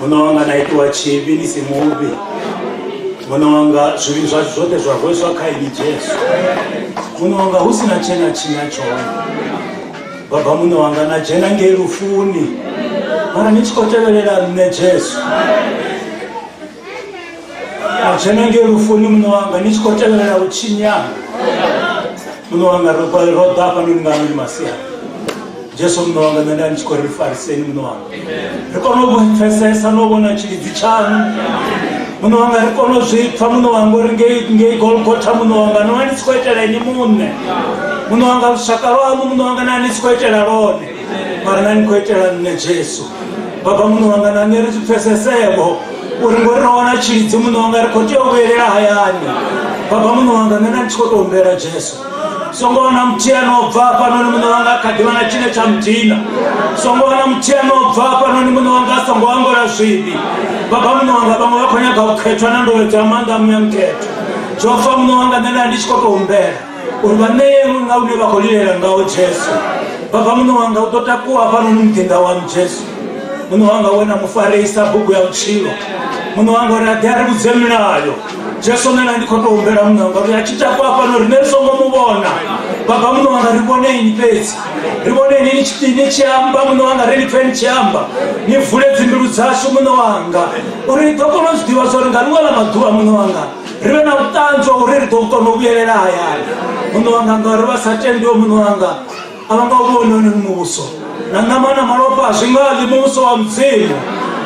muṋe wanga na itiwa tshivhi ni si muvhi muṋe wanga zwivhi zwa zwoṱhe zwa rweswa kha ini jesu muṋe wanga hu si na tshena tshinya tshone baba muṋe wanga na dzhena ngei lufuni mara ni tshi khou tevhelela nṋe jesu Na dzhena ngei lufuni muṋe wanga ni tshi khou tevhelela u tshinyana muṋe wanga ro ro ḓa hafhanoni nga ndi masiari jesu muṋe wanga nṋe nda ni tshi khou ri fariseni muṋe wanga ri kone u pfesesa no vhona tshilidzi tshaṋu muṋe wanga ri kone u zwi pfha muṋe wanga uri ngei ngei golgotha muṋe wanga no vha ni tshi khou itela ini muṋe muṋe wanga lushaka lwaṋu muṋe wanga na ni tshi khou itela lone mara na ni khou itela nṋe jesu baba muṋe wanga na nṋe ri zwi pfesesevho uri ngori ro wana tshilidzi muṋe wanga ri khou tea u vhuyelela hayani baba muṋe wanga nṋe na ndi tshi khou tou humbela jesu songo wana muthihi ano bva hafhanoni muṋe wanga a kha ḓivha na tshine tsha mudina songo wana muthihi ano bva hafhanoni muṋe wanga a songo angola zwivhi baba muṋe wanga vhaṅwe vha khou nyaga u khethwa na ndovhedzo ya maanḓa muya mukhetho zwo fa muṋe wanga nṋe na ndi tshi khou tou humbela uri vha ṋeye munna une vha khou lilela ngawo jesu baba muṋe wanga u ḓo takuwa hafhanoni muḓinḓa wanu jesu muṋe wanga wena mufarisa bugu ya vhutshilo muṋe wanga uri a ḓi a ri vhudze milayo jesu nena ndi khou tou humbela muṋe wanga uri a tshi takuwa hafhano rine ri songo mu vhona baba muṋe wanga ri vhone ini fhedzi ri vhone ini ni tshi- ni tshi amba muṋe wanga ri ni pfe ni tshi amba ni vule dzimbilu dzashu muṋe wanga uri ni ḓo kona u zwi ḓivha zwa uri nga ḽiṅwe ḽa maḓuvha muṋe wanga ri vhe na vhuṱanzi wa uri ri ḓo kona u vhuyelela hayani muṋe wanga ngauri vha sa tendiwe muṋe wanga a vha nga u vhoni hone muvhuso na ṋama na malofha a zwi nga ḽi muvhuso wa mudzimu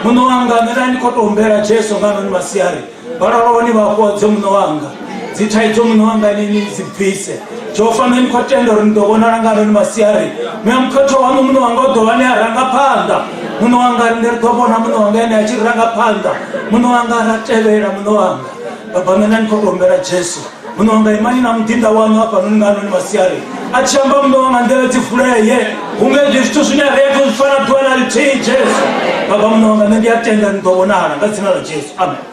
muṋe wanga nṋe na ndi khou tou humbela jesu nga noni masiari vha loloni vha fhodze muṋe wanga dzi thaidzo muṋe wanga nini dzi bvise jehova nṋe ni khou tenda uri ni ḓo vhonala nga loni masiari ni ya mukhetho waṋu muṋe wanga u ḓo vha ni a ranga phanḓa muṋe wanga ri ne ri ḓo vhona muṋe wanga ene a tshi ri ranga phanḓa muṋe wanga ra tevhela muṋe wanga babame na ni khou tombela jesu muṋe wanga imani na muḓinḓa waṋu hafhanoni nga loni masiari a tshi amba muṋe wanga nḓila dzi vuleye hunge ndi zwithu zwine ri a tou zwi fana ḓuvha na lithihi jesu baba muṋe wanga nṋe ndi a tenda ni ḓo vhonala nga dzina ḽa jesu amen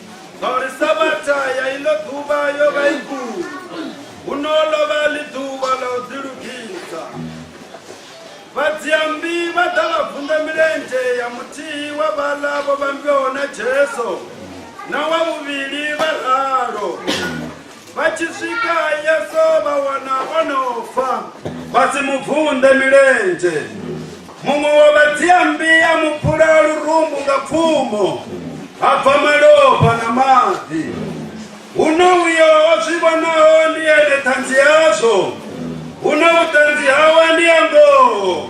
Ngauri sabatha ya iḽo ḓuvha yo vha i kule, huno ḽo vha ḽi ḓuvha ḽa u ḓilugisa. Vhadziammbi vha ḓa vha vunḓa milenzhe ya muthihi wa vhaḽa vho vhambiwaho na Jesu na wa vhuvhili vha ralo. vha tshi swika yesu vha wana o no fa vha si mu vunḓe milenzhe muṅwe wa vhadziambi a mu phula lurumbu nga pfumo ha bva malofha na maḓi huno uyo o zwi vhonaho ndi ene ṱhanzi yazwo huno vhuṱanzi hawe ndi ya ngoho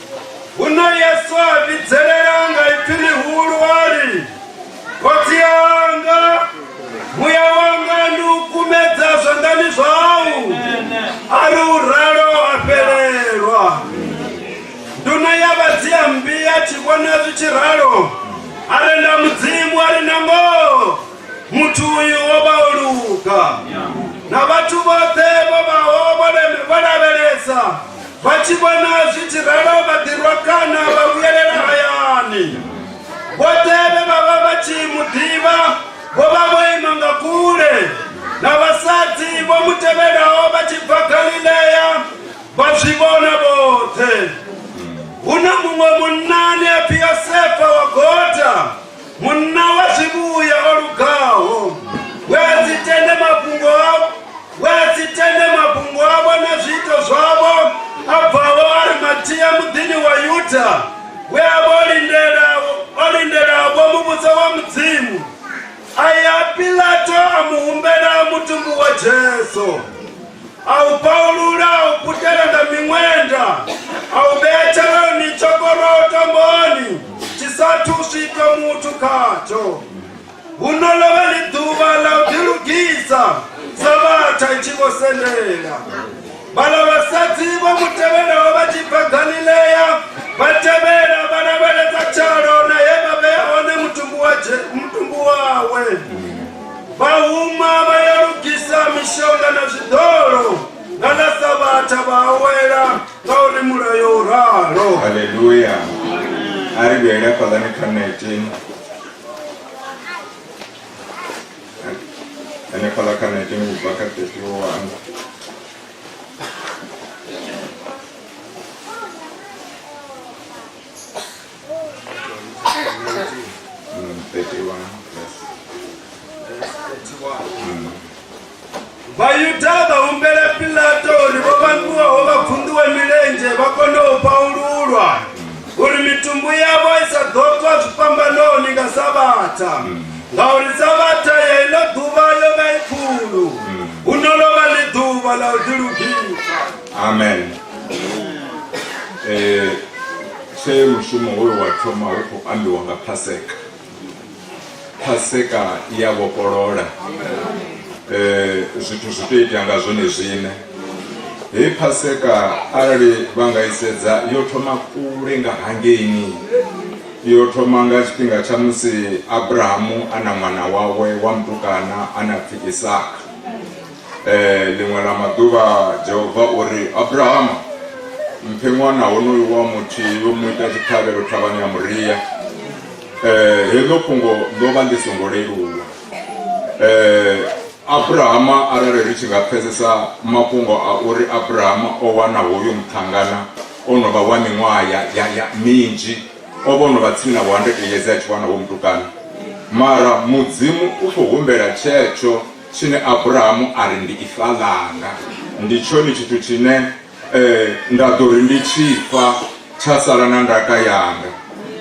Huno Yesu a vhidzelela nga ipfi ḽihulu a ri, Khotsi anga, muya wanga ndi u kumedza zwanḓani zwau. A ri u ralo a fhelelwa. Nduno ya vhadzia mmbi a tshi vhona zwi tshi ralo, a renda Mudzimu a ri, Na ngoho! muthu uyu wo vha o luga na vhathu vhoṱhe vho vhaho vho leme- vho lavhelesa vha tshi vhona zwi tshi ralo vha ḓirwa kana vha vhuyelela hayani vhoṱhe vhe vha vha vha tshi mu ḓivha vho vha vho ima nga kule na vhasadzi vho mu tevhelaho vha tshi bva galilea vha zwi vhona vhoṱhe hu na muṅwe munna ane a pfi yosefa wa gota munna wa zwivhuya o lugaho we a si tende mafhungo a- we a si tende mafhungo avho na zwiito zwavho a bvaho arimatia muḓini wa yuda we a vha o lindela- o lindelavo muvhuso wa mudzimu a ya pilato a mu humbela mutumbu wa jesu a u paulula a u putela nga miṅwenda a u vhea tsheloni tshokoroto mboni tshi sathu u swika muthu khatsho huno ḽo vha ḽi ḓuvha ḽa u ḓilugisa sa vhatha i tshi vho sendela vhala vhasadzi vho mu tevhelaho vha tshi bva galilea vha tevhela vha lavhelela tshalo na he vha vhea hone mutumbu wa Je- mutumbu wawe Vha huma vha ya lugisa mishonga na zwiḓolo nga ḽa Savhatha vha awela ngauri mulayo u ralo. Haleluya. A ri vhuyele hafhaḽani kha 19 hanefhaḽa kha 19 u bva kha 31 Thank you. Mm, 31 verse. Mm. vayuda vaumbela pilato uri vo vanguwaho va khunduwe milenje va kone u paululwa uri mitumbu yavo i sa ḓo tswa zwifhambanoni nga sabatha ngauri sabatha ya ino ḓuvha yo vha i khulu hu no ḽo vha ḽi ḓuvha ḽa u ḓilugisa amen Eh, Tshe mushumo hoyo wa thoma hu khou ambiwa nga Phaseka, Phaseka i ya vhofholola eh, zwithu zwi tea itea nga zwone zwine. Hei Phaseka arali vha nga i sedza yo thoma kule nga hangeini yo thoma nga tshifhinga tsha musi Abrahamu a na ṅwana wawe wa mutukana a na pfi Isaka Eh, ḽiṅwe ḽa maḓuvha jehova o ri abrahama mphe ṅwana honoyu wa muthu yo mu ita tshiṱhavhelo thavhani ya muria eh, heḽo fhungo ḽo vha ḽi songo leluwa eh, abrahama arali ri tshi nga pfesesa mafhungo a uri abrahama o wana hoyo muṱhangana o no vha wa miṅwaha ya minzhi o vha o no vha tsini na vhuhandekeyedzi a tshi wana wo mutukana mara mudzimu u khou humbela tshetsho Tshine Abrahamu a ri, Ndi ifa ḽanga, ndi tshone tshithu tshine e, nda ḓo ri ndi tshi fa, tsha sala na ndaka yanga.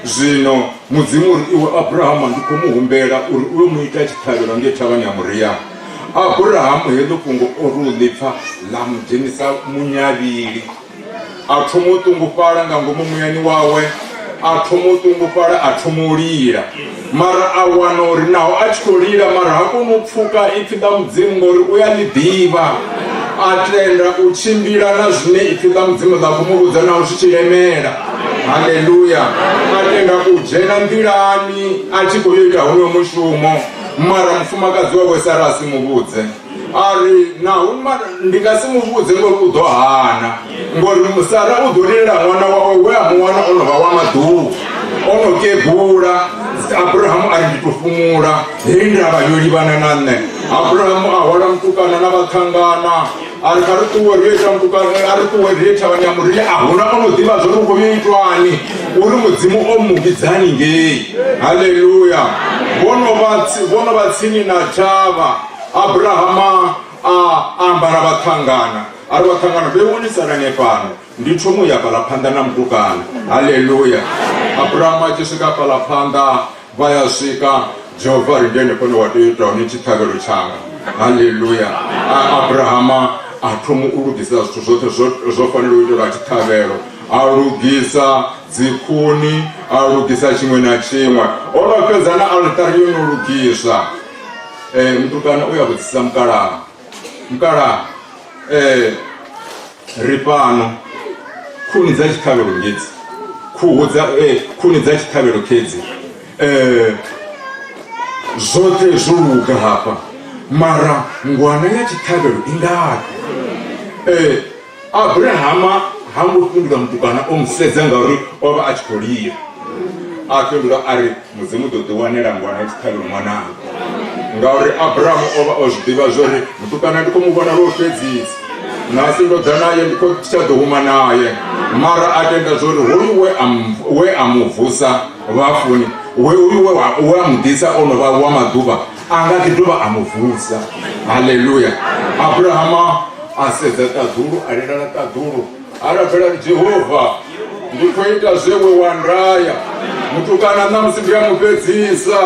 Zwino Mudzimu ri, Iwe Abrahama, ndi khou mu humbela uri u yo mu ita tshiṱhavhelo ngei thavhani ya Moria. Abrahamu heḽo fhungo o ri u ḽi pfa, ḽa mu dzhenisa munyavhili. a thoma u ṱungufhala nga ngomu muyani wawe a thoma u ṱungufhala a thoma u lila mara a wana uri naho a tshi khou lila mara ha koni u pfuka ipfi ḽa mudzimu ngori u ya ḽi ḓivha a tenda u tshimbila na zwine ipfi ḽa mudzimu ḽa khou mu vhudza naho zwi tshi lemela haleluya a tenda u dzhena nḓilani a tshi khou yo ita honoyo mushumo mara mufumakadzi wawe sara a si mu vhudze a ri naho ndi nga si mu vhudze ngori u ḓo hana ngori musara u ḓo lilela ṅwana wawe we a muwana o no vha wa maḓuvha o no kegula abrahamu a ri ndi to fhumula hei ndavha yo livhana na nṋe abrahamu a hwala mutukana na vhaṱhangana a ri kha ri ṱuwe ri ita mutukana a ri ṱuwe ri thavhani ya murile a huna o no ḓivha zwo ri khou yo itwani uri mudzimu o mu vhidzani ngei haleluya vho no vha tsini na thavha abrahama a ambara vhaṱhangana a ri vhaṱhangana vhe wonisalane fhano ndi thomo ya fhala phanḓa na mutukana halleluya abrahama a tshi swika fhala phanḓa vha ya swika jehova ri ndene fhone wa tea ita hone tshiṱhavhelo tshanga halleluya abrahama a thomo u lugisa zwithu zwoṱhe zwo fanela u itelwa tshiṱhavhelo a lugisa dzikhuni a lugisa tshiṅwe na tshiṅwe o no fhedza na altari yo no lugisa eh, mutukana uya vhudzisa mukalaha mukalaha eh, ri fhano khuni dza tshiṱhavhelo ngedzi khuhu dza eh, khuni dza tshiṱhavhelo khedzi eh, zwoṱhe zwo luga hafha mara ngwana ya tshiṱhavhelo i ngafhi eh, abrahama ha ngo fhindula mutukana o mu sedza ngauri o vha a tshi khou lila a fhindula a ri mudzimu ḓo ḓi wanela ngwana tshiṱhavhelo ṅwananga ngauri abrahamu o vha o zwi ḓivha zwo ri mutukana ndi khou mu vhona lwo fhedzisa nasi ndo ḓa naye ndi khou tsha ḓo huma naye mara a tenda zwo ri hoyu we a mu- we a mu vusa vhafuni we uyu we wa- we a mu ḓisa o no vha wa maḓuvha a nga ḓi dovha a mu vusa halleluya abrahama a sedza ṱaḓulu a lilala ṱaḓulu a rabela ri jehova ndi khou ita zwe we wa ndaya mutukana ṋamusi ndi a mu fhedzisa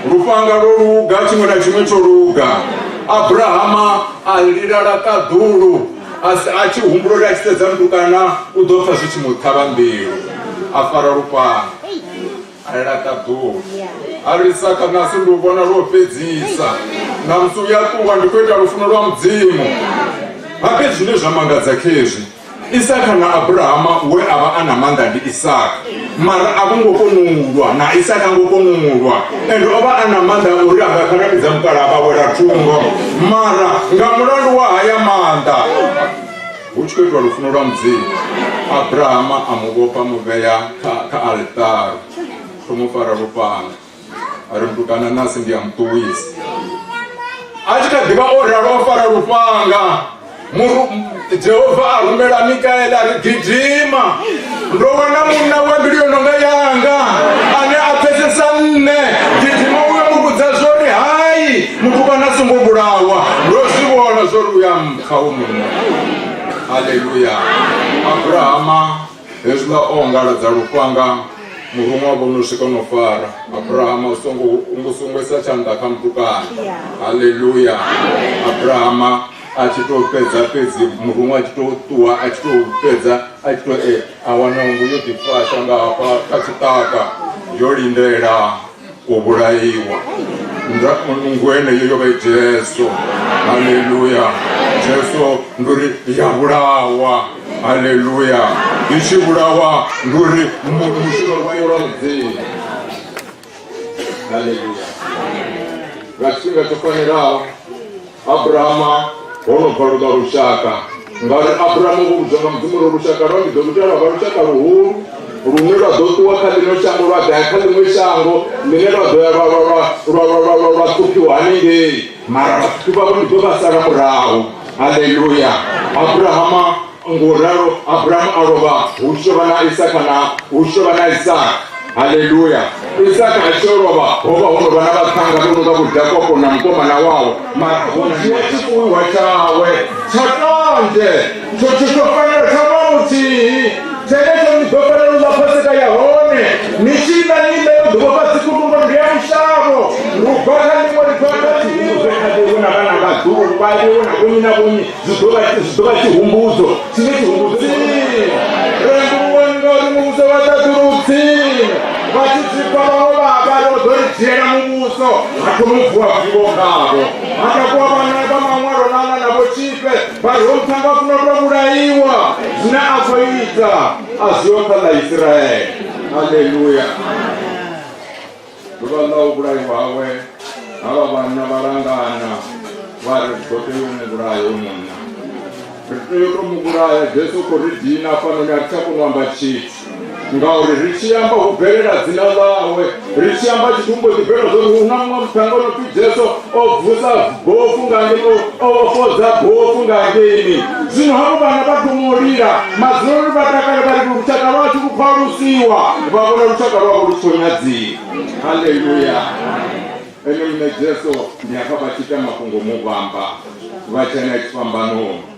lufhanga lwo luga tshiṅwe na tshiṅwe tsho luga abrahama a lilala ṱaḓulu a si- a tshi humbula uri a tshi sedza mutukana u ḓo pfa zwi tshi mu ṱhavha mbilu a fara lufhanga a ela ṱaḓuwo a ri saka nasi ndi u vhona lwo fhedzisa na musi u ya ṱuwa ndi khou ita lufuno lwa mudzimu habe zwine zwa mangadza khezwi isaka na abrahama we a vha a na maanḓa ndi isaka mara a vho ngo kona u lwa na isaka ngo kona u lwa ende o vha a na maanḓa a uri a nga kharamidza mukala a vha wela thungo mara nga mulandu wa haya maanḓa Hu tshi khou itwa lufuno lwa mudzimu abrahama a mu vhofha mu vhea kha kha altare ro mu fara lufhanga a ri mutukana nasi ndi a muṱuwisa a tshi kha ḓivha o ralo o fara lufhanga jehova a rumela mikaela ri gidima ndo wana munna wa mbilu yo nonga yanga ane a pfesesa nne gidima uyo mu vhudza zwori hai mutukana a songo vhulawa ndo zwi vhona zwori u ya mba kha u muno haleluya abrahama hezwiḽa o ongaladza lufhanga muruṅwa wa vhono swika no fara abrahama u songo u songo isa tshanḓa kha mutukana haleluya abrahama a tshi tou fhedza fhedzi muruṅwa a tshi tou ṱuwa a tshi tou fhedza a tshi tou e a wana nngu yo ḓifasha nga hafha kha tshiṱaka yo lindela u vhulaiwa nga nngu eneyo yo vha i jesu haleluya jesu ndi uri ya vhulawa haleluya i tshi vhulawa ndi uri mushumo wayozi haleluya nga tshifhinga tsho fanelaho Abrahama ho no bva luka lushaka ngauri Abrahama vho vhudzwa nga mudzimu uri lushaka lwa ndi ḓo luita lwa vha lushaka luhulu lune lwa ḓo ṱuwa kha ḽino shango lwa ḓaya kha ḽiṅwe shango ḽine lwa ḓo ya lwa ṱhuphiwa hanengei mara vhathu vhavho ndi ḓo vha sala murahu halleluya abrahama Ngauralo Abrahamu a lovha, hu tshi tou vha na Isaka na hu tshi tou vha na Isaka. Haleluya! Isaka a tshi lovha, ho vha ho no vha na vhaṱhanga vho no nga Vho Jakopo na mukomana wawe, mara ho na dzhia tshifuiwa tshawe tsha ṱanzhe tsho tshi ḓo fanela tsha vha muthihi tshenetsho ni ḓo fanela u ḽa phaseka ya hone ni tshi ḽa ni ḽe u ḓuvha fhasi kutumbo ndi ya mushavho lu bva kha ḽiṅwe ḽifhanga tsihiwe kha ḽiwe na vhana vhaḓulu vha ḽiwe na vhonyi na vhonyi zwi ḓo vha zwi ḓo vha tshihumbudzo tshine tshihumbudzo rembuluwani ngauri muvhuso wa ṱaḓulu u tsini vha tshi tsipfa vhaṅwe vhaba ro ḓo ri dzhiela muvhuso ha thoma u vuwa vivo ngavho ha takuwa vhana vha maṅwalo nana na vho tshife vha ri ho mphanga funa u to vhulaiwa zwine a khou ita a zwiyo kha ḽa isiraele halleluya ḓuvha ḽa u vhulaiwa hawe havha vhanna vha langana vha ri ḓo tea u mu vhulaya u munna ri tea u to mu vhulaya jesu khou ri dina fanoni a ri tsha kona u amba tshithu ngauri ri tshi amba hu bvelela dzina ḽawe ri tshi amba tshithu mbo ḓi bvelela zwori hu na muṅwe muṱhanga o no pfi jesu o vusa bofu nga ngei o fodza bofu nga ngeini zwino havho vhana vha thoma u lila madzuloni vha takale vha ri lushaka lwashu lu khwalusiwa vha vhona lushaka lwavho lu tshi khou nyadziwa halleluya ene muṋe jesu ndi hafha vha tshi ita mafhungo muvhamba vha tshena tshifhambanoni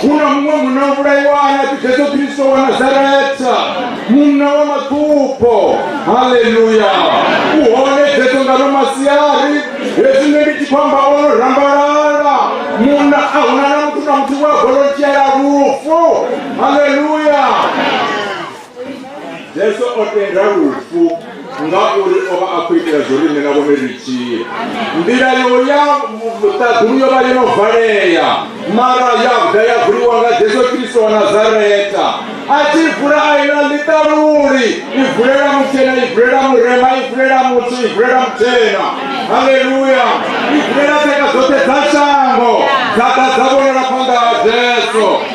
hu na muṅwe munna o vhulaiwa a na pfi jesu kristo wa nazareta munna wa maṱupho haleluya u hone jesu nga no masiari hezwi nṋe ndi tshi khou amba o no rambalala munna a huna na muthu na muthu wa golotshela lufu haleluya Jesu o tenda lufu ngauri o vha a khou itela zwo riṋe na vhone ri tshile nḓila yo ya vhuṱaḓulu yo vha yo no valea mara ya vhuda ya vuliwa nga jesu kristo wa nazareta a tshi vula a ina ḽiṱaluli i vulela mutshena i vulela murema i vulela muthu i vulela mutshena haleluya i vulela tshaka dzoṱhe dza shango dza ḓa dza vhonala phanḓa ha jesu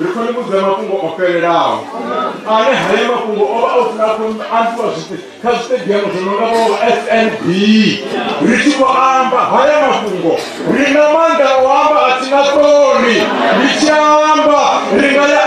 ri khou ni vhudza mafhungo o fhelelaho ane haya mafhungo o vha o funa khou ambiwa zwite kha zwitediamu zwo nonga vho snb ri tshi khou amba haya mafhungo ri na maanḓa o amba a si na ṱoni ri tshi amba ri nga ya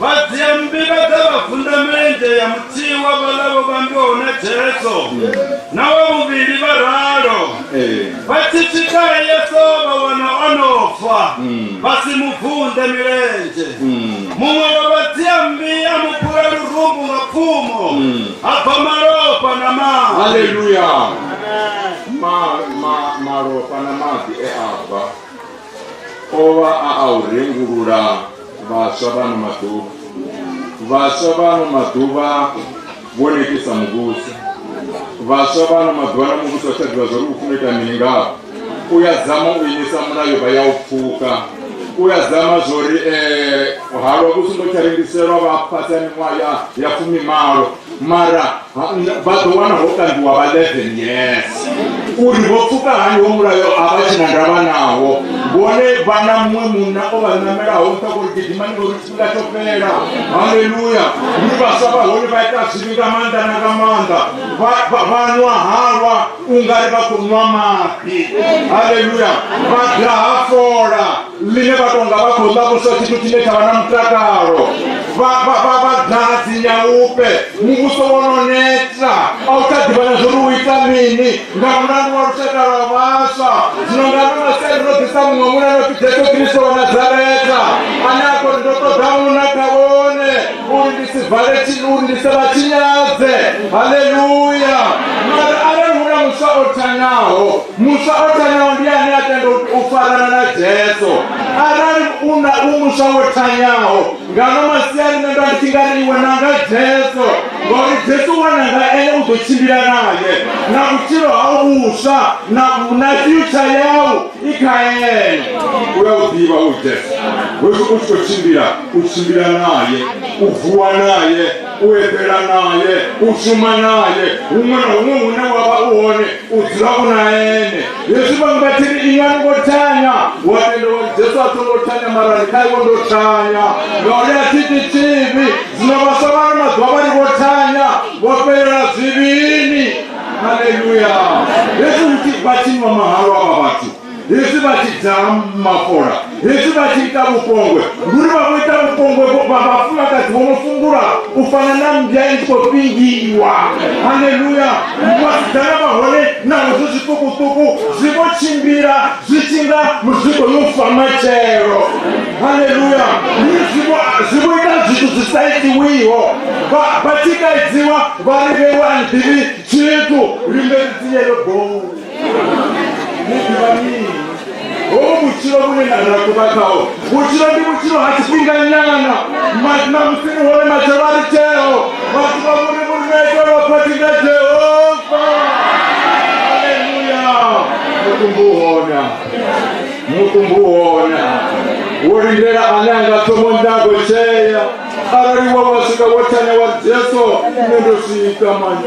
vhadziambila dza vhagunda milenzhe ya muthihi wa vhalavo vha ambiwaho na jesu na wa vhuvhili vha ralo vha tshi swika yesu vha wana o no fa vha si mu vunḓe milenzhe muṅwe wa vhadziambi a mu phula lurumbu nga pfumo ha bva malofha na maḓi haleluya Ma- ma- malofha na maḓi e a bva o vha a a u rengulula vhaswa vhano maḓuvha vhaswa vhano maḓuvha vho netisa muvhuso vhaswa vhano maḓuvha na muvhuso tsha ḓivha zwa uri u funa ita mini ngao u ya dzama u imisa mulayo vha ya u pfuka u ya dzama zwa uri um eh, halwa vhu songo tsha rengiselwa vha fhasi ya miṅwaha ya fumimalo mara vha ḓo wana ho kambiwa vha 11 yes uri vho pfuka hani wo mulayo a vha tshina ndavha nawo vhone vha na muṅwe munna o vha namelaho nṱha kuri gidimani ngori tshifhinga tsho fhela haleluya ndi vhaswa vha hone vha ita zwivhi nga maanḓa na nga maanḓa vha nwa halwa u nga ri vha khou nwa mafhi haleluya vha daha fola ḽine vha tonga vha khou ḽa vhuswa tshithu tshine tsha vha na mutakalo vhadadzi nyaupe muvhuso wo no neta a u tsha ḓivha na zwori u ita mini nga mulandu wa lushaka lwa vhaswa zwino nga no masai ro ḓisa muṅwe muna no pfi jesu kristo wa nazareta ane a kori ndo ṱoḓa muna kha vhone uri ndi si vale uri ndi se vha tshinyadze haleluya mara arali hu na muswa o thanaho muswa o thanyaho ndi ane a tenda u farana na jesu arali u na u muswa wo thanyaho ngano masiari nṋe nda nditshi nga ri iwe nanga jesu ngauri jesu wananga ene u ḓo tshimbila naye na vhutshilo hau vhuswa na na future yau i kha ene u ya u ḓivha u jesu hezwi u tshi khou tshimbila u tshimbila naye u vuwa naye u eḓela naye u shuma naye huṅwe na huṅwe hune wa vha u hone u dzula u na ene yesu vhaṅwe vha tshiri inga ni ngo thanya wa tenda uri jesu a songo thanya mara ndi kha iwe ndo thanya ngauri a thiti tshivhi zwino vhaswa vhano maḓuvha vha ri vho thanya vho fhelela zwivhini haleluya yesu vha tshinwa mahalo avha vhathu hezwi vha tshi dzala mafola hezwi vha tshi ita vhupongwe ndi uri vha vho ita vhupongwe vha vhafumakadzi vho no fungula u fana na mbya i tshi khou fhingiwa haleluya vhasidzana vha hone naho zwi zwiṱukuṱuku zwi vho tshimbila zwi tshi nga muzwiko yo fa matshelo haleluya zwi vho ita zwithu zwi sa itiwiho vha tshi kaidziwa vha ri vhewa nḓivhi tshithu limbe dzi yelo bou hoo vutshilo vhune nda nga kuva khaho vutshilo ndi vutshilo ha tshifhinganyana na musini hone matshelo a ri tsheo vhathu vha vhone vhurumeke lwa phathi nga jehova aleluya mutumbu hona mutumbu hona wo lindela ane a nga thomo ndago tshea arali wa wa swika wo thanya wa jesu nne ndo swika mani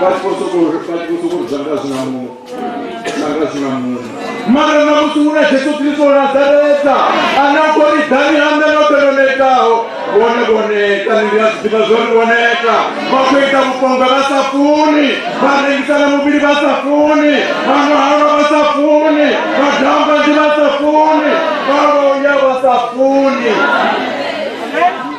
vhatshi khou sokou vhatshi khou sokou zwanga zwi na muṅwe zwanga zwi na muṅwe mara na musi hu na jesu kristo o nazareta ane a khou ri dani handa noṱhe ndo netaho vhone vho neta ni ndi a zwi ḓivha zwori vho neta vha khou ita vhuponga vha sa funi vha rengisa na muvhili vha sa funi vha nwahalwa vha sa funi vha damba ndi vha sa funi vha loya vha sa funi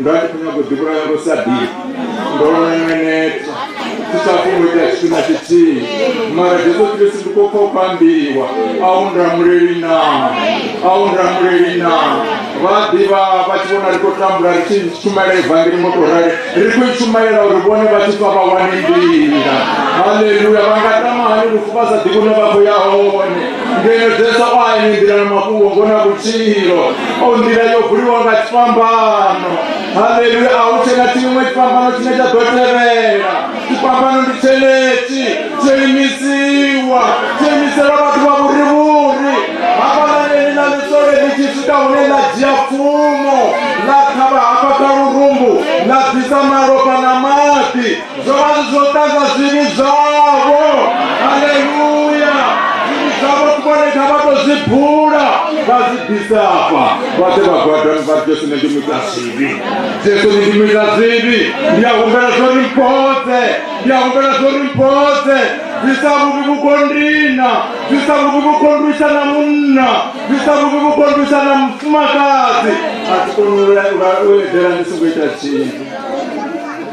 ndo vha ndi khou nyago ḓivhulaya ngo sa ḓi ndo nengeneta thi sa funi ita tshithu na tshithihi mara jesu kristu ndi khou khou pambiwa a u ndamuleli na a u ndamuleli na vha ḓivha vha tshi vhona ri khou tambula ri tshi shumela evangeli ngo tou rali ri khou i shumalela uri vhone vha tshi fa vha wane nḓila haleluya vha nga tama hani lufu vha sa ḓivhi hune vha khou ya hone ngeedzesa o ayenendirana mafhungo ngo na vhutshilo o nḓila yo vuliwa nga tshifhambano haleluya a hu tshena tshiṅwe tshifhambano tshine tsha ḓo tevhela tshifhambano ndi tshenetshi tsho imisiwa tsho imisela vhathu vha vhurivhuri hafhalaneni na ḽisole ḽi tshi swika hune ḽa dzhia pfumo ḽa khavha hafha kha lurumbu ḽa bvisa malofha na maḓi zwo vha zwi zwo ṱanza zwivhi zwavho haleluya zwivhi zwavho kumone kha vha to zwi bula vha zwi bvisa afha vhaḓe vha gwadani vha jesu ne ndi muita zwivhi jesu ne ndi muita zwivhi ndi a humbela zwo ri mphodze ndi a humbela zwo ri mphodze bvisa vhuvhi vhukondina bvisa vhuvhi vhukondwisa na munna bvisa vhuvhi vhukondwisa na mufumakadzi a ti koni u edela ndi songo ita tshinthu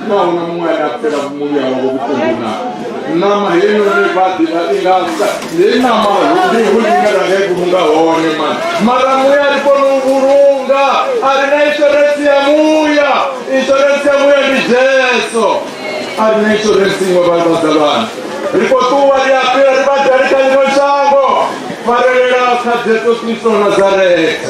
naona muṅwe ane a fela muvhuya wavho vhuṱungu na ṋama heinoni vha ḓivha i nga sa hei ṋama ndi hune ine ra nga i vhulunga hone mani mara muya ri kona u vhulunga a ri na insurance ya muya insurance ya muya ndi jesu a ri na insurance iṅwe vhalwadza vhana ri khou ṱuwa ri a fhira ri badali kha ḽino shango farelela kha jesu kristo nazareta